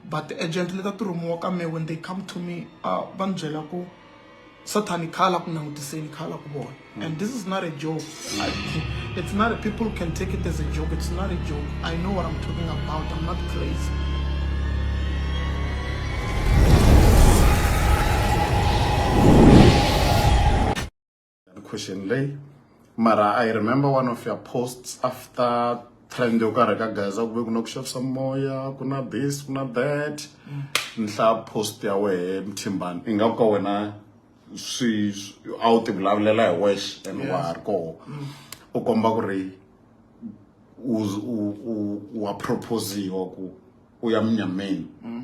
but ti-agent leta ti rhumiwa ka me when they come to me uh, va ni byela ku sathani kha la ku langutiseni kha la ku vona mm. and this is not a joke I, it's not a, people can take it as a joke it's not a joke i know what i'm talking about i'm not crazy the question lay mara i remember one of your posts after trend yo karhi ka gaza ku ve ku na ku xavisa moya ku na this ku na that mm. nhla post ya wehe mthimbani i nga ku ka wena swi a wu ti vulavulela hi wexe and wa ha ri koho mm. u komba ku ri wa proposiwa ku u ya munyameni mm.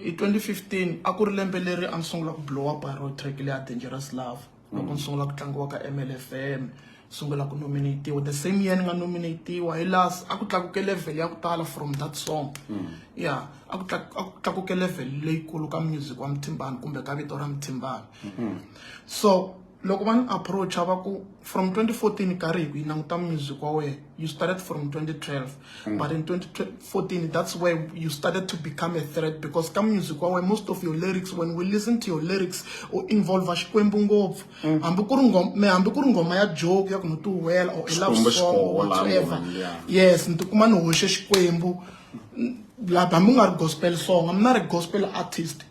Hi 2015 a ku ri lembe leri a ni sungula ku blowa baro track leyi ya Dangerous Love loko ni sungula ku tlangiwa ka MLFM sungula ku nominatiwa the same year ni nga nominatiwa hi laha a ku tlakuke level ya ku tala from that song ya a ku tlaku- a ku tlakuke level leyikulu ka music wa Mthimbani kumbe ka vito ra Mthimbani so loko va ni approacha va ku from 2014 ka ri hi yi languta music wa wena you started from 2012 mm. but in 2014 that's where you started to become a threat because ka music wa wena most of your lyrics when we listen to your lyrics u involve xikwembu ngopfu mm. hambi ku ri ngoma hambi ku ri ngoma ya joke ya ku ni tiwela or a love song or whatever yes ni tikuma ni hoxe xikwembu laha hambi u nga ri gospel song i'm not a gospel artist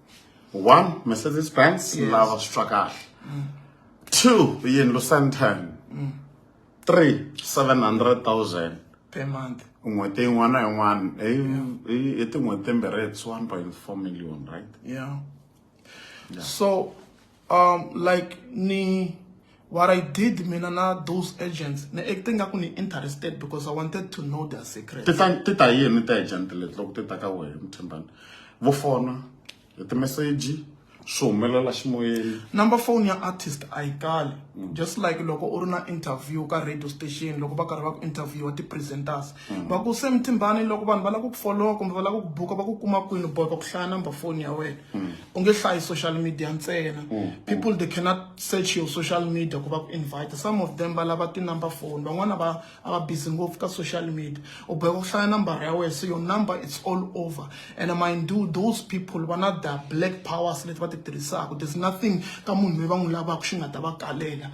one mercedes benz yes. lava swi twa kahle mm. two yini lucentan mm. three seven hundred thousand per month n'hweti yin'wana na yin'wana i tin'hweti timbirhi it's one point four million right yeah. yeah so um like ni what I did mina na those agents ni acting nga ku ni interested because I wanted to know their secret ti ta ti ta yini ta agent leti loko ti ta ka wehe muthimbani vo fona hi timeseji swi humelela ximoyeni number phone ya artist a yi kali just like loko u ri na interview ka radio station loko va karhi va ku interviewa ti-presenters Mm. va ku se mtimbani loko vanhu va lava ku ku folowa kumbe va lava ku ku buka va ku kuma kwini boy va ku hlaya number phone ya wena mm. u nge hlayi social media ntsena mm. people they cannot search your social media ku va ku invite some of them va lava ti-number phone van'wana va a va busy ngopfu ka social media u boheka ku hlaya number ya wena so your number it's all over and mind you those people va na the black powers leti va ti tirhisaka there's nothing ka munhu loyi va n'wi lavaka xi nga ta va kalela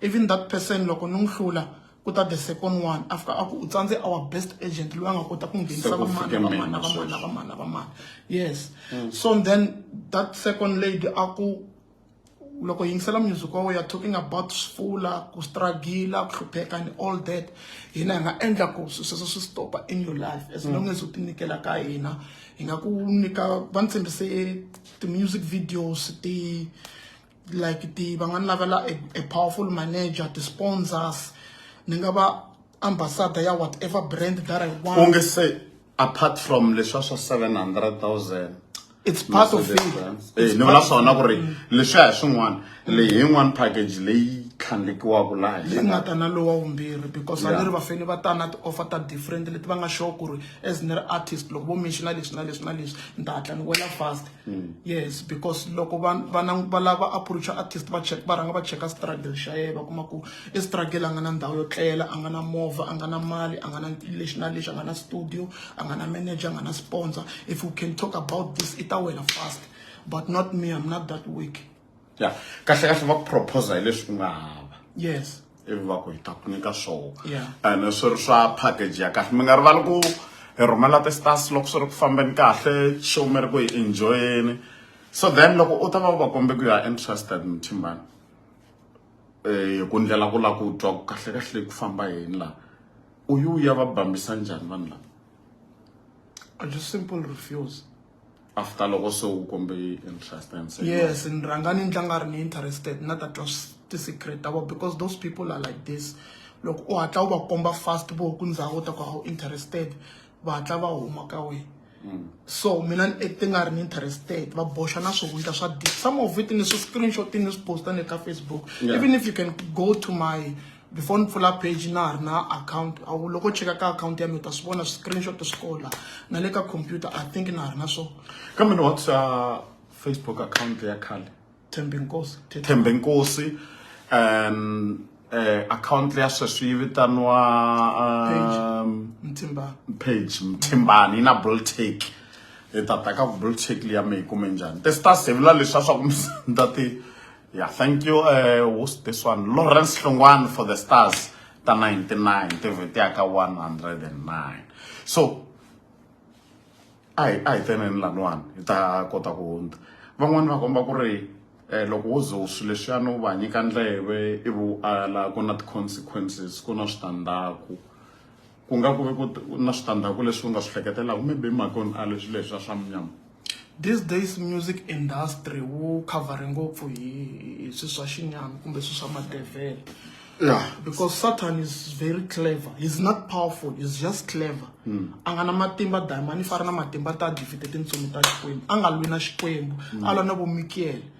Even that person loko ni n'wi hlula ku ta the second one after a ku u tsandze our best agent loyi a nga kota ku nghenisa vamani vamani vamani vamani vamani yes mm. so then that second lady a ku loko yingisela music wa weya talking about sifula ku struggle ku hlupheka and all that hina hi nga endla ku swi sweswo swi stopa in your life as long as u tinyikela ka hina hi nga ku nyika va ni tshembise ti-music videos ti like ti va nga ni lavela a powerful manager ti-sponsors ni nga va ambassador ya whatever brand that i want onge se apart from leswa swa 700000 it's part of it eh, ni vula swona ku ri leswiya hi swin'wana leyi yin'wana package leyi tlhandlekiwaka laha leyi nga ta na lowa wumbirhi because a ni ri vafeni va ta na ti-offer ta different leti va nga sure ku ri as ni ri artist loko vo menxiona leswi na leswi na leswi ni ta hatla ni wela fast Mm. yes because loko va lava approacha artist va check va rhanga va cheka struggle xa yena va kuma ku i struggle a nga na ndhawu yo tlela a nga na movha a nga na mali a nga na lexi na lexi a nga na studio a nga na manager a nga na sponsor if you can talk about this i ta wela fast but not me i'm not that weak ya kahle kahle va ku proposa hi leswi u nga hava yes ivi va ku hi ta ku nyika swoho ene swi ri swa package ya kahle mi nga rivali ku hi rhumela ti-stars loko swi ri ku fambeni kahle show mi ri ku hi enjoyeni so then loko u ta va u va kombe ku you are interested muthimbani um eh, ku ndlela ku lava ku twa ku kahle kahle ku famba yini laha u yi u ya va bambisa njhani vanhu lava a just simple refuse after loko se u kombe interest and say yes ni rhanga ni ndla nga ri ni interested na ta twa ti-secret ta vona because those people are like this loko u hatla u va komba fast vo ku ndhawu ta ku a wu interested va hatla va huma ka wena mm. so mina ni acte nga ri ni interested va boxa na swihundla swa deep some of it ni swi screenshot ni swi posta ni ka facebook even if you can go to my before ni pfula page na ha ri na account a wu loko cheka ka account ya mi u ta swi vona screenshot swi kola na le ka computer i think na ha ri na swo kambe ni whatsa facebook account ya khale thembe nkosi thembe nkosi um eh, account ya sweswi yi vitaniwa um, mthimbani page mthimbani yi na bultake hi ta ta ka bultake liya mi yi kume njhani ti star sevula leswi a swa ku mi ta ti Yeah, thank you, uh, who's this one? Lawrence Longwan for the stars. The 99, the Vitiaka 109. So, I, I then in Lanwan, ita kota kuunda. Van'wana va komba ku ri eh, loko wo ze u swi leswiyani u va nyika ndleve ivi u ala ku na ti-consequences ku na switandzhaku ku nga ku ve ku na switandzhaku leswi u nga swi hleketelaka maybe makoni a leswi leswi a swa munyama these days music industry wu covere ngopfu hi hi swi swa xinyama kumbe swi swa madevhele yeah because satan is very clever he's not powerful he's just clever hmm. a nga na matimba diamond i fari na matimba ta david tintsumi ta xikwembu a nga lwi na xikwembu hmm. a lwa na vomikele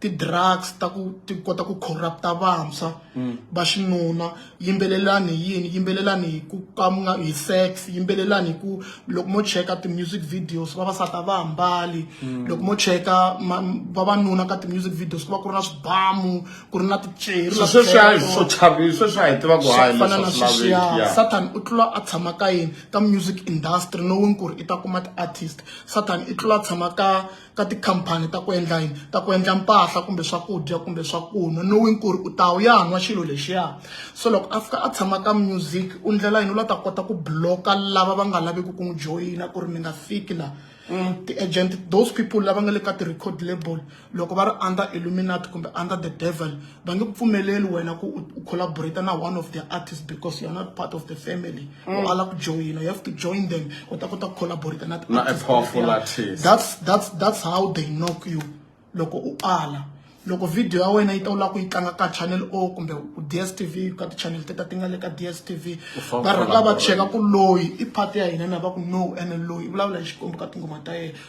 ti-drugs ta ku ti kota ku corrupt-a vantshwa mm. va xinuna yimbelelani hi yini yimbelelani hi ku kamuna hi sex yimbelelani hi ku loko mo cheka ti-music videos vavasati a va hambali mm. loko mo cheka vavanuna ka ti-music videos ku va ku ri na swibamu ku ri na ticerisweswiaifana na sweswiya satan u tlula a tshama ka yini ka music industry knowing ku ri i ta kuma ti-artist satan i tlula a tshama ka ka tikhampani ta ku endla yini ta ku endla mpahla kumbe swakudya kumbe swakunwa knowing ku ri u ta wu ya nwa xilo lexiya so loko a fika a tshama ka music u ndlela yini u la ta kota ku bloka lava va nga laviki ku n'wi joyina ku ri mi nga fiki laha Mm. ti-agent those people lava nga le ka ti-record label loko va ri under illuminati kumbe under the devil va nge ku pfumeleli wena ku u collaborate na one of the artists because you're not part of the family mm. u ala ku joyina you have to join them u ta kota ku collaborate na tiartist that's, that's, that's how they knock you loko u ala loko video ya wena yi ta u lava ku yi tlanga ka channel o kumbe ku dstv ka tichannel teta ti nga le ka dstv va rhanga va cheka ku loyi i part ya hina na va ku no ene loyi i vulavula hi xikwembu ka tinghoma ta yena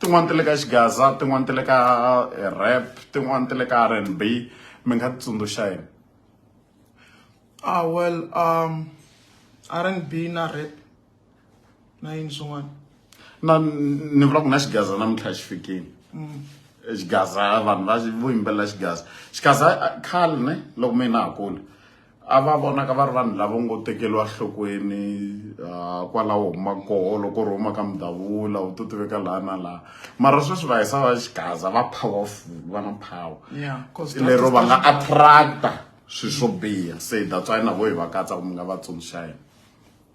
tin'wani ti le ka xigaza tin'wani ti le ka eh, rap tin'wani ti le ka r and b mi nga ti tsundzuxa yini ah well um r and b na rap na yini swin'wana na ni vula ku na xigaza namuntlha xi fikile mm. eh, xigaza vanhu va vo yimbelela xigaza xigaza eh, khale ne loko mina ha kula a va vonaka va ri vanhu lava ngo tekeriwa nhlokweni ah, kwalaho huma koho loko u ri huma ka mudavula u to tiveka laha na laha mara sweswi va hisa va xigaza va powerful va na power Yeah, 'cause that lero is va nga the- attracta swilo swo biha se that's why na vo hi va katsa ku mi nga va tsundzuxa yena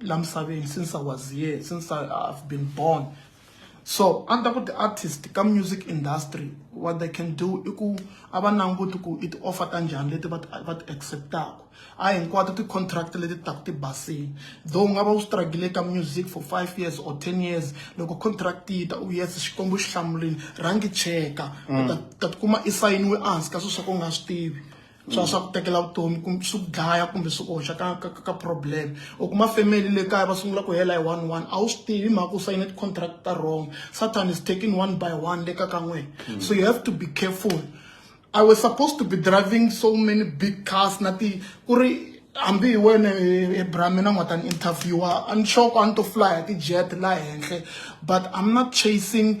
la misaveni since I was here since I, I've been born so a ni ta ku ti-artist ka music industry what they can do i ku a va languti ku i ti-offer ta njhani leti va ti va ti accept-aka a hinkwato ti-contract leti taku ti basile though u nga va u struggle ka music for five years or ten years loko contract yi ta u yes xikwembu xi hlamulile rhangi cheka mm. ta tikuma i sayiniwe ehansi ka swilo swa ku u nga swi tivi swa swa ku tekela vutomi kumbe swi ku dlaya kumbe swi oxa ka ka ka problem u kuma family le kaya va sungula ku hela hi one one a wu swi tivi mhaka u sayine ti-contract ta wrong satan is taking one by one le ka ka n'wina hmm. so you have to be careful i was supposed to be driving so many big cars na ti ku ri hambi hi wena ebrahmi na n'wata ni interviewa a ni xoko a ni to fly hi ti-jet laha henhle but i'm not chasing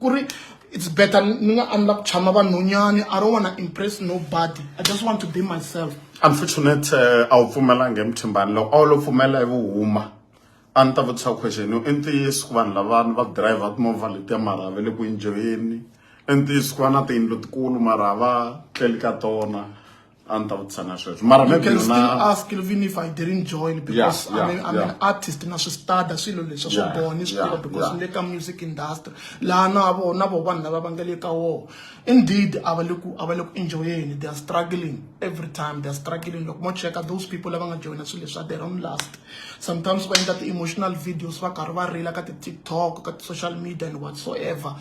ku ri it's better ni nga endla ku tshama vanhonyani i don't wanna impress nobody i just want to be myself unfortunate eh, a wu pfumelanga emuthimbani loko a wu lo pfumela hi vuhuma a ni ta vutisa question yo i ntiyiso ku vanhu lavani va driver timovha letiya mara va le ku enjoyeni i ntiyiso ku va na tiyindlu tikulu mara va tleli ka tona a ni ta vutisa na sweswo mara you can still ask even if i didn't join because yeah, yeah, I'm, an, I'm yeah. an artist na swi stada swilo leswa swo boha ni swi tiva because ni le ka music industry laha na vo na vo vanhu lava va nga le ka woho indeed a va le ku a va le ku enjoyeni they are struggling every time they are struggling loko mo cheka those people lava nga joyina swilo leswa their own last sometimes va endla ti-emotional videos va karhi va rila ka ti-tiktok ka ti-social media and whatsoever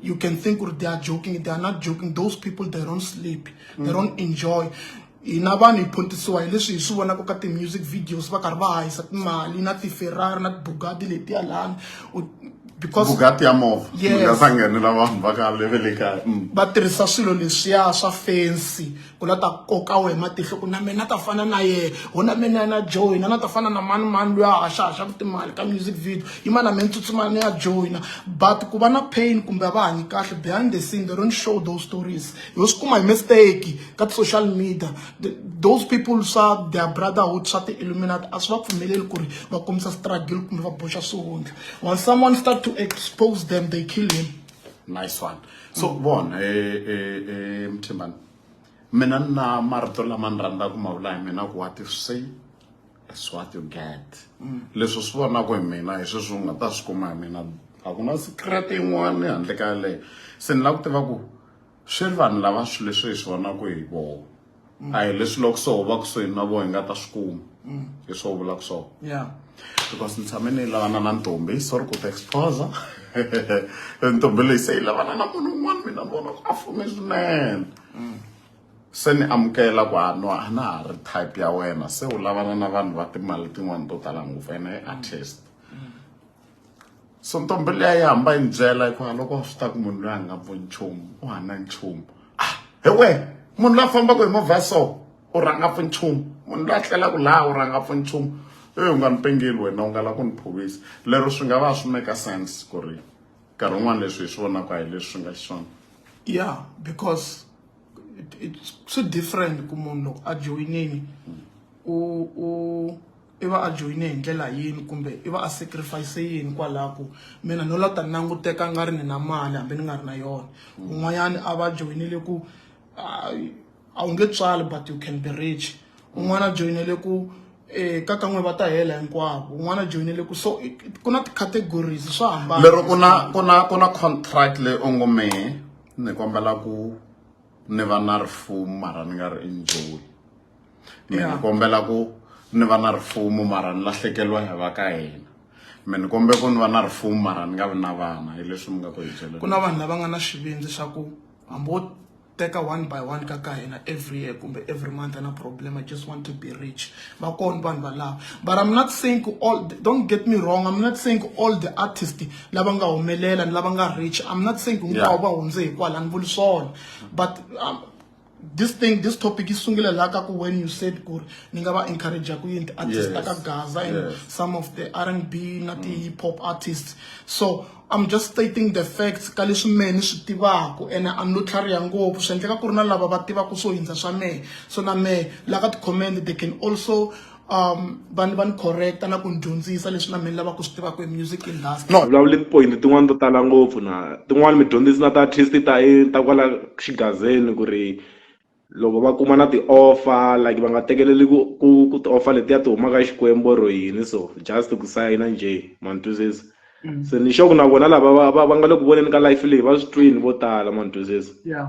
you can think they are joking they are not joking those people they don't sleep they don't enjoy hina vanhu hi phuntisiwa hi leswi hi swi vonaka ka ti-music videos va karhi va hahisa timali na ti-ferrari na ti-bugadi letiya lani because bugati ya movha yes va nghenela vanhu va ka leve le kaya mm. va tirhisa swilo leswiya swa fensi ku la ta koka wehe matihlo ku na mina ta fana na yehe ho na mina na joina na ta fana na mani mani loyi a haxahaxaka timali ka music video yi ma na mina tsutsumana ni ya joina but ku va na pain kumbe a va hanyi kahle behind the scene they don't show those stories hi swi kuma hi mistake ka ti-social media those people swa their brotherhood swa ti-illuminati a swi va pfumeleli ku ri va kombisa struggle kumbe va boxa swihundla when someone start to expose them they kill him nice one so mm. vona e, e, e, mthimbani mina ni na marito lama ni rhandzaka ku ma vula hi mina ku wa ti say is what you get mm. leswi swi vonaka hi mina hi sweswi u nga ta swi kuma hi mina a ku na secret yin'wana handle ka yaleyo se ni lava ku tiva ku swi ri vanhu lava swi leswi hi swi vonaka hi voho mm. a hi leswi loko so va kusuhini na voho hi nga ta swi kuma mm. hi swo vula ku swona ya because ni tshame ni yi lavana na ntombi sorry ku ti exposa ntombi leyi se yi lavana na munhu un'wana mina ni vona ku a fume swinene mm. se ni amukela ku a no a na ha ri type ya wena se u lavana na vanhu va timali tin'wana to tala ngopfu ene a test so ntombi liya yi hamba yi ni byela hikuva loko swi ta ku munhu loyi a nga vo nchumu u hana nchumu ah he we munhu loyi a fambaka hi movha so u rhanga pfu nchumu munhu loyi a tlelaka laha u rhanga pfu nchumu eyi u nga ni pengeli wena u nga la ku ni phovisa lero swi nga va swi make sense ku ri nkarhi wun'wana leswi hi swi vonaka hi leswi swi nga xiswona ya because swi different ku munhu loko a joyinini u u i va a joyine hi ndlela yini kumbe i va a sacrifice yini kwalaho ku mina no la ta languteka nga ri ni na mali hambi ni nga ri na yona un'wanyana a va joyinele ku a wu nge tswali but you can be rich un'wana a joyinele ku um eh, ka kan'we va ta hela hinkwavo un'wana a joyinele ku so ku na ti-categories swa hambana lero ku na ku na ku na contract leyi u ngo mehe ni kombela ku ni va na rifumo mara ni nga ri enjoyi mi ni kombela ku ni va na rifumo mara ni lahlekeriwa hi va ka hina mi ni kombe ku ni va na rifumo mara ni nga vi na vana hi leswi mi nga ku hi byele ku na vanhu lava nga na xivindzi swa ku hambi wo teka one by one ka ka hina every year kumbe every month ana problem i just want to be rich va kona vanhu valava but i'm not saying ku all don't get me wrong i'm not saying ku all the artist lava nga humelela ni lava nga rich i'm not saying ku hinkwavo va hundze hikwala ni vuli swona but um, this thing this topic is sungula la ka ku when you said ku ni nga va encourage ku yini artist yes. ka Gaza and yes. some of the R&B na ti mm. hip hop artists so I'm just stating the facts ka leswi mehe ni swi tivaka ene a no tlhariha ngopfu swi endleka ku ri na lava va tivaka swo hundza swa mehe so na mehe la ka ti-comment they can also um va ni va ni correcta na ku ni dyondzisa leswi na mina lava ku swi tivaka hi music industry no vulavuli tipoyini tin'wani to tala ngopfu na tin'wani mi dyondzisi na ta artist ta ta kwala xigazeni ku ri loko va kuma na ti-offer like va nga tekeleli ku ku ku ti-offer letiya ti humaka xikwembu or yini so just ku sayina njhe ma ni twisisa Mm. se ni xoku na vona lava va va va nga le ku voneni ka life leyi va swi twini vo tala ma ni twisisa yeah